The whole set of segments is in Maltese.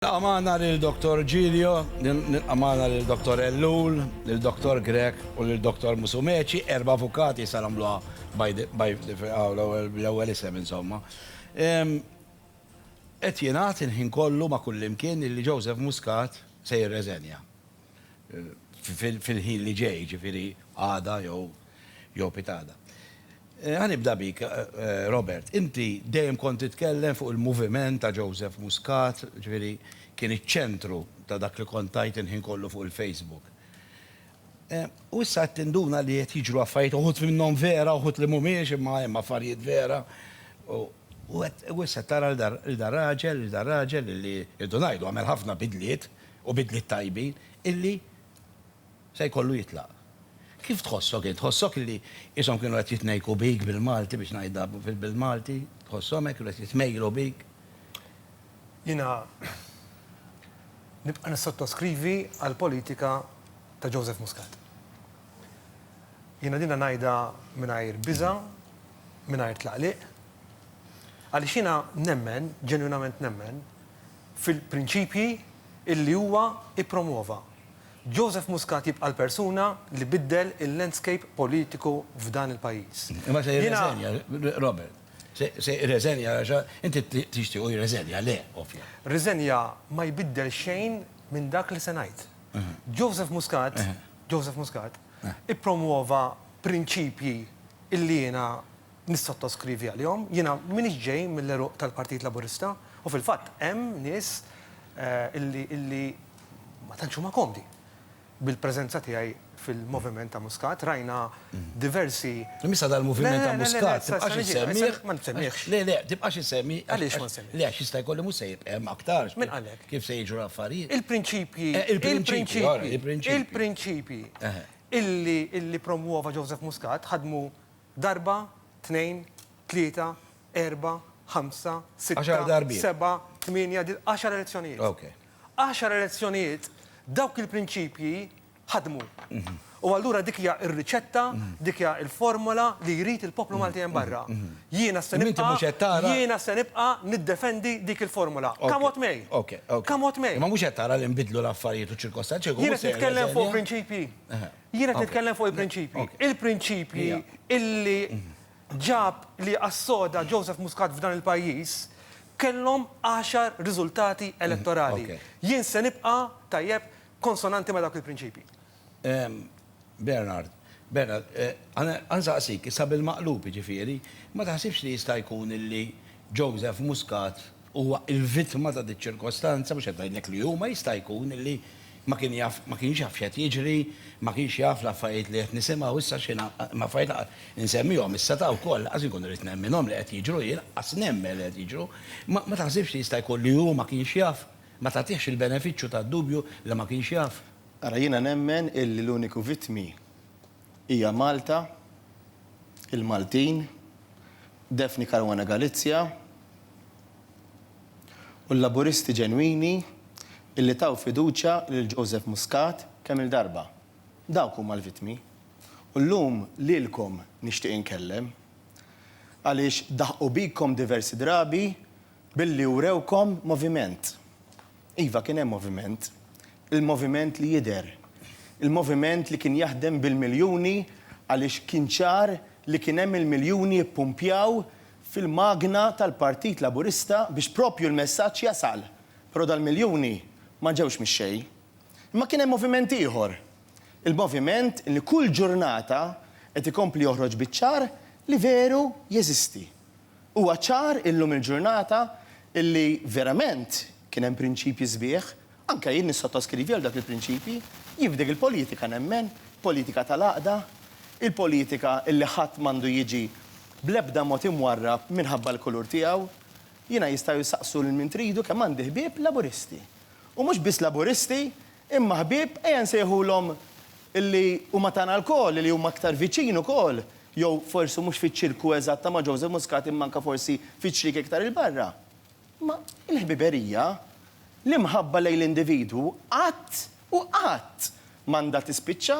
Nilqa' magħna lil Dottor Giglio, nilqa' magħna lil Dottor Ellul, lil Dottor Grech u lil Dottor Musumeci, erba' avukati, issa nagħmluha by the, by the, aw l-ewwel, bl-ewwel isem insomma. Qed jingħad il-ħin kollu ma' kullimkien illi Joseph Muscat se jirreżenja. Fil-ħin li ġej, jiġifieri għada jew jew pitada. Ħa nibda bik, Robert. Inti dejjem kont titkellem fuq il-moviment ta' Joseph Muscat, ġifieri kien iċ-ċentru ta' dak li kont tgħid il-ħin kollu fuq il-Facebook. U issa qed tinduna li qed jiġru affarijiet, uħud minnhom vera, uħud li mhumiex, imma hemm affarijiet vera. U issa qed tara lil dan raġel, lil dan raġel li rridu ngħidu għamel ħafna bidliet u bidliet tajbin, illi se jkollu jitlaq. Kif tħossok int? Tħossok illi qishom kienu qed jitnejjku bik bil-Malti biex ngħidha bil-Malti? Tħosshom hekk? Kienu qed jitmejjlu bik? Jiena nibqa' nissottoskrivi għall-politika ta' Joseph Muscat. Jiena dinha ngħidha mingħajr biża', mingħajr tlaqliq, għaliex jiena nemmen, ġenwinament nemmen, fil-prinċipji illi huwa ippromwova. Joseph Muscat jibqa' l-persuna li biddel il-landscape politiku f'dan il-pajjiż. Imma se jirreżenja, Robert. Se jirreżenja għax inti tixtiequ jirreżenja, le, ovvja. Riżenja ma jbiddel xejn minn dak li se ngħid. Joseph Muscat, Joseph Muscat, ippromwova prinċipji illi jiena nissottoskrivi għalihom. Jiena m'iniex ġej mill-għeruq tal-Partit Laburista u fil-fatt hemm nies illi ma tantx huma komdi bil-preżenza tiegħi fil-moviment ta' Muscat. Rajna diversi. Imma issa dal-moviment ta' Muscat tibqax issemmih? Ma nsemmihx. Le, le, tibqax issemmih? Għaliex ma nsemmihx? Le, għax jista' jkolli mhux se jibqa' hemm aktar. Min qalek? Kif se jiġru l-affarijiet? Il-prinċipji. Il-prinċipji. Il-prinċipji illi ppromwova Joseph Muscat ħadmu Darba, tnejn, tlieta, erbgħa, ħamsa, sitta. Għaxar darbiet. Sebgħa, tmienja, di-, għaxar elezzjonijiet. Ok. Għaxar elezzjonijiet, dawk il-prinċipji ħadmu. U allura dik hija r-riċetta, dik hija l-formola li jrid il-poplu Malti hemm barra. Jiena se nibqa'. Imma inti mhux qed tara. Jiena se nibqa' niddefendi dik il-formola. Come what may. Ok, ok. Come what may. Imma mhux qed tara li nbidlu l-affarijiet u ċ-ċirkostanzi. Jiena qed nitkellem fuq prinċipji. Jien qed nitkellem fuq il-prinċipji. Il-prinċipji illi ġab li assoda Joseph Muscat f'dan il-pajjiż kellhom għaxar riżultati elettorali. Jien se nibqa', tajjeb, konsonanti ma' dawk il-prinċipji. Bernard, Bernard, ħa nsaqsik, issa bil-maqlub jiġifieri, ma taħsibx li jista' jkun illi Joseph Muscat huwa l-vittma ta' din iċ-ċirkostanza, mhux qed ngħidlek li hu, ma jista' jkun li ma kien jaf, ma kienx jaf x'qed jiġri, ma kienx jaf l-affarijiet li qed nisimgħu issa xi ngħid, affarijiet li qed insemmihom issa ta' wkoll lanqas inkun irrid nemminhom li qed jiġru hi, lanqas nemmen li qed jiġru, imma ma taħsibx li jista' jkun li hu ma kienx jaf, ma tagħtihx il-benefiċċju tad-dubju li ma kienx jaf? Ara jiena nemmen illi l-uniku vittmi hija Malta, il-Maltin, Daphne Caruana Galizia, u l-Laburisti ġenwini illi taw fiduċja lil Joseph Muscat kemm-il darba. Dawk huma l-vittmi. U llum lilkom nixtieq inkellem. Għaliex daħqu bikom diversi drabi billi wrewkom moviment. Iva kien hemm moviment. Il-moviment li jidher. Il-moviment li kien jaħdem bil-miljuni għaliex kien ċar li kien hemm il-miljuni jippumpjaw fil-magna tal-Partit Laburista biex proprju l-messaġġ jasal, però dal-miljuni ma ġewx mix-xejn. Imma kien hemm moviment ieħor, il-moviment li kull ġurnata qed ikompli joħroġ biċ-ċar li veru jeżisti. Huwa ċar illum il-ġurnata li verament kien hemm prinċipji sbieħ Anke jien nissottoskrivi għal dawk il-prinċipji. Jien f'dik il-politika nemmen, politika tal-għaqda, il-politika li ħadd m'għandu jiġi bl-ebda mod imwarrab minħabba l-kulur tiegħu. Jiena jistgħu jsaqsu lil min tridu kemm għandi ħbieb Laburisti. U mhux biss Laburisti, imma ħbieb, ejja nsejħulhom li huma tagħna lkoll, li huma aktar viċin ukoll, jew forsi mhux fiċ-ċirku eżatt ta' ma' Joseph Muscat imma anke forsi fiċ-ċrieki iktar 'il barra. Imma l-ħbiberija, l-imħabba lejn l-individwu qatt u qatt m'għandha tispiċċa,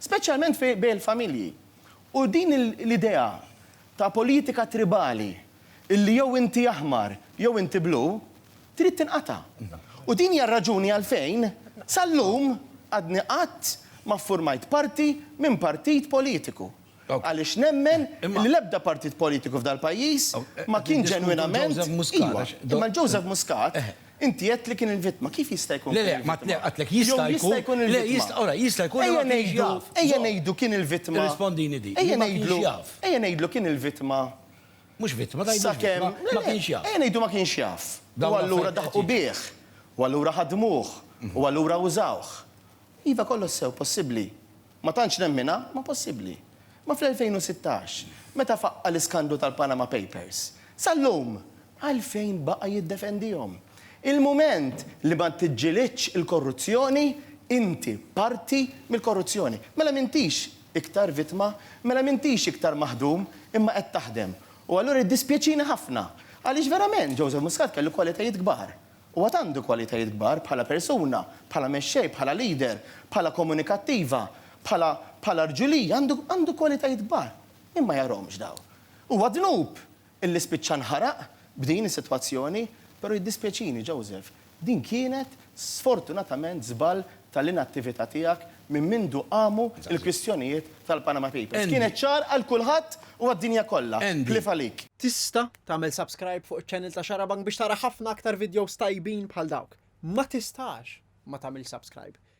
speċjalment fi bejn il-familji. U din l-idea ta' politika tribali illi jew inti aħmar jew inti blu trid tinqata'. U din hija r-raġuni għalfejn sal-lum għadni qatt ma ffurmajt parti minn partit politiku. Għaliex nemmen li l-ebda partit politiku f'dal-pajjiż ma kien ġenwinament, iva, imma l-Joseph Muscat inti għedt li kien il-vittma, kif jista' jkun kien il-vittma? Le, le, ma għedtlek jista' jkun il-vittma. Jista' jkun li ma kienx jaf. Ejja ngħidu kien il-vittma. Irrispondini dik. Ejja ngħidlu, ejja ngħidlu kien il-vittma. Mhux vittma, tgħidlu kemm. Ma kienx jaf. Ejja ngħidu ma kienx jaf. U allura daħqu bih. U allura ħadmuh. U allura użawh. Iva kollox sew, possibbli. Ma tantx nemminha, ma possibbli. Ma fl-2016, meta faqqa' l-iskandlu tal-Panama Papers, sal-lum, għalfejn baqa' jiddefendihom? Il-mument li ma tiġġilidx il-korruzzjoni, inti parti mill-korruzzjoni. Mela m'intix iktar vittma, mela m'intix iktar maħdum, imma qed taħdem. U allura jiddispjaċini ħafna, għaliex verament Joseph Muscat kellu kwalitajiet kbar. U għad għandu kwalitajiet kbar bħala persuna, bħala mexxej, bħala leader, bħala komunikattiva, bħala bħala rġulija, għandu għandu kwalitajiet kbar. Min ma jarahomx dawn? Huwa dnub illi spiċċa nħaraq b'din is-sitwazzjoni, però jiddispjaċini, Joseph, din kienet sfortunatament żball tal-inattività tiegħek minn mindu qamu l-kwistjonijiet tal-Panama Papers. Kienet ċar għal kulħadd u għad-dinja kollha. Cliff għalik. Tista' Tagħmel subscribe fuq iċ-channel ta' Xarabank biex tara ħafna aktar videos tajbin bħal dawk. Ma tistax ma tagħmilx subscribe.